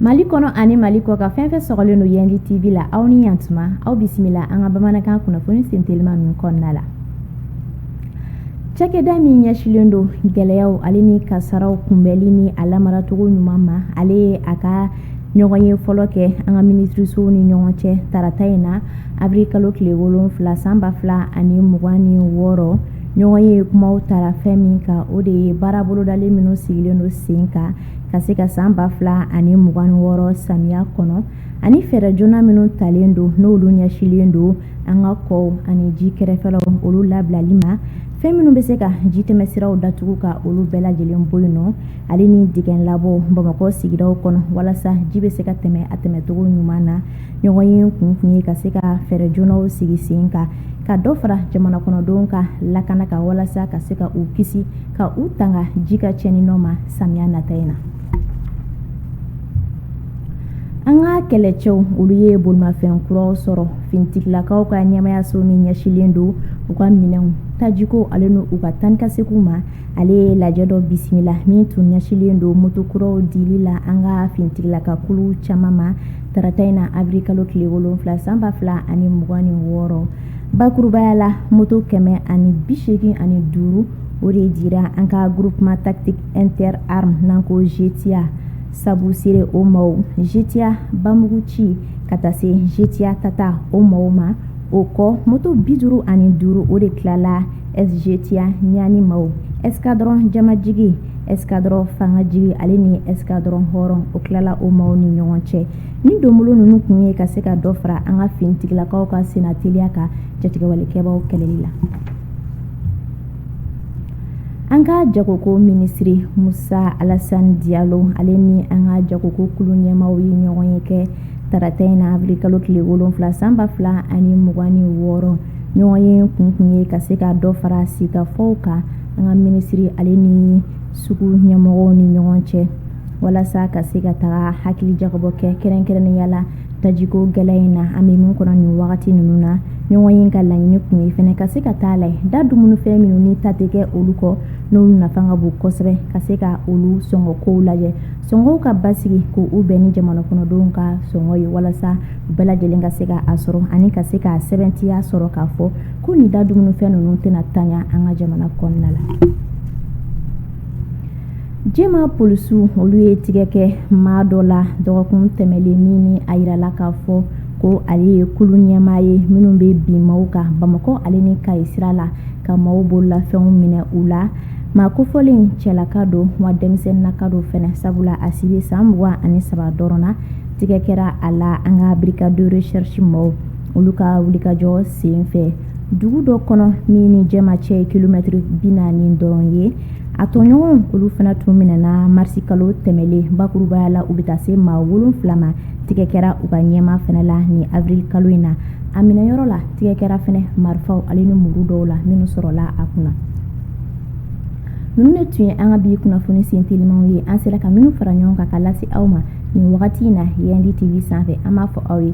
mali kɔnɔ ani mali kɔkan fɛn fɛn sɔgɔlen don yandi tv la aw ni yantuma aw bisimila an ka bamanankan kunnafoni sentelima min kɔnɔna la cakɛda min ɲɛsilen don gɛlɛyaw ale ni kasaaraw kunbɛli ni a lamaracogo ɲuman ma ale ye a ka ɲɔgɔnye fɔlɔ kɛ an ka minisirisow ni ɲɔgɔn cɛ tarata in na abiri kalo tile wolonfila san ba fila ani mugan ni wɔɔrɔ ɲɔgɔnye kuma taara fɛn min kan o de ye baara bolodalen minnu sigilen don sen kan ka se ka san ba fila ani mugan ni wɔɔrɔ samiya kɔnɔ ani fɛɛrɛ joona minnu talen don n'olu ɲɛsilen don an ka kɔw ani ji kɛrɛfɛlaw olu labilali ma fɛn minnu bɛ se ka ji tɛmɛsiraw datugu ka olu bɛɛ lajɛlen bɔ yen nɔ ale ni dingɛ labɔw bamakɔ sigidaw kɔnɔ walasa ji bɛ se ka tɛmɛ a tɛmɛcogo ɲuman na ɲɔgɔnye kun tun ye ka se ka fɛɛrɛ joonaw sigi sen kan ka dɔ fara jamana kɔnɔdenw ka lakana kan walasa ka se ka u kisi ka u tanga ji ka cɛni nɔ ma samiya nata in na an ka kɛlɛcɛw olu ye bolimafɛn kuraw sɔrɔ finitigilakaw ka ɲɛmayaso min ɲɛsilen don u ka minɛnw tajiko ale ni u ka taa ni ka seginw ma ale ye lajɛ dɔ bisimila min tun ɲɛsilen don motokuraw dili la an ka finitigilaka kulu caman ma Tarata in na abiri kalo tile wolonfila san ba fila ani mugan ni wɔɔrɔ bakurubaya la moto kɛmɛ ani bi segin ani duuru o de dira an ka groupement tactique interarmes n'an ko GTIA sabusire o maaw GTIA bamuguci ka taa se GTIA tata o maaw ma o kɔ moto bi duuru ani duuru o de tilala SGTIA naani ma escadron jamajigi escadron fanga jigi ale ni escadron hɔrɔn o tilala o maaw ni ɲɔgɔn cɛ ni don ninnu tun ye ka se ka dɔ fara an ka finitigilakaw ka senna teliya kan jatigɛwalekɛbaw kɛlɛli la an ka jagoko minisiri musa alasan diyalo ale ni an ka jagoko kulu ɲɛmaaw ye ɲɔgɔnye kɛ tarata in na abiri kalo tile wolonwula san ba fila ani mugan ni wɔɔrɔ ɲɔgɔnye kun tun ye ka se ka dɔ fara sigikafɔw kan an ka minisiri ale ni sugu ɲɛmɔgɔw ni ɲɔgɔn cɛ walasa ka se ka taa hakilijagabɔ kɛ kɛrɛnkɛrɛnnenya la tajiko gɛlɛ in na an bɛ min kɔnɔ nin wagati ninnu na ɲɔgɔnye ka laɲini kun ye fana ka se ka taa la da dumunifɛn minnu ni taa tɛ kɛ olu kɔ n'olu nafa ka bon kosɛbɛ ka se ka olu sɔngɔ kow lajɛ sɔngɔw ka basigi k' u bɛn ni jamana kɔnɔdenw ka sɔngɔ ye walasa u bɛɛ lajɛlen ka se ka a sɔrɔ ani ka se ka sɛbɛntiya sɔrɔ k'a fɔ ko nin da dumunifɛn ninnu tɛna ntanya an ka jamana kɔnɔna la jɛma polisiw olu ye tigɛ kɛ maa dɔ la dɔgɔkun tɛmɛnlen min ni a yirala k'a fɔ ko ale ye kulu ɲɛmaa ye minnu bɛ bin maaw kan bamakɔ ale ni kayi sira la ka maaw bololafɛnw minɛ u la maa kofɔlen cɛlaka don wa denmisɛnninlaka don fana sabula a si bɛ san mugan ani saba dɔrɔn na tigɛ kɛra a la an ka brigade de recherche maaw olu ka wulikajɔ sen fɛ dugu dɔ kɔnɔ min ni jɛma cɛ ye kilomɛtiri bi naani dɔrɔn ye a tɔɲɔgɔnw olu fana tun minɛna marisi kalo tɛmɛlen bakurubaya la u bɛ taa se maa wolonfila ma tigɛ kɛra u ka ɲɛmaa fana la nin avril kalo in na a minɛyɔrɔ la tigɛ kɛra fana marifaw ale ni muru dɔw la minnu sɔrɔla a kunna ninnu de tun ye an ka bi kunnafoni sen telimanw ye an sera ka minnu fara ɲɔgɔn kan ka lase aw ma nin wagati in na yandi tv sanfɛ an b'a fɔ aw ye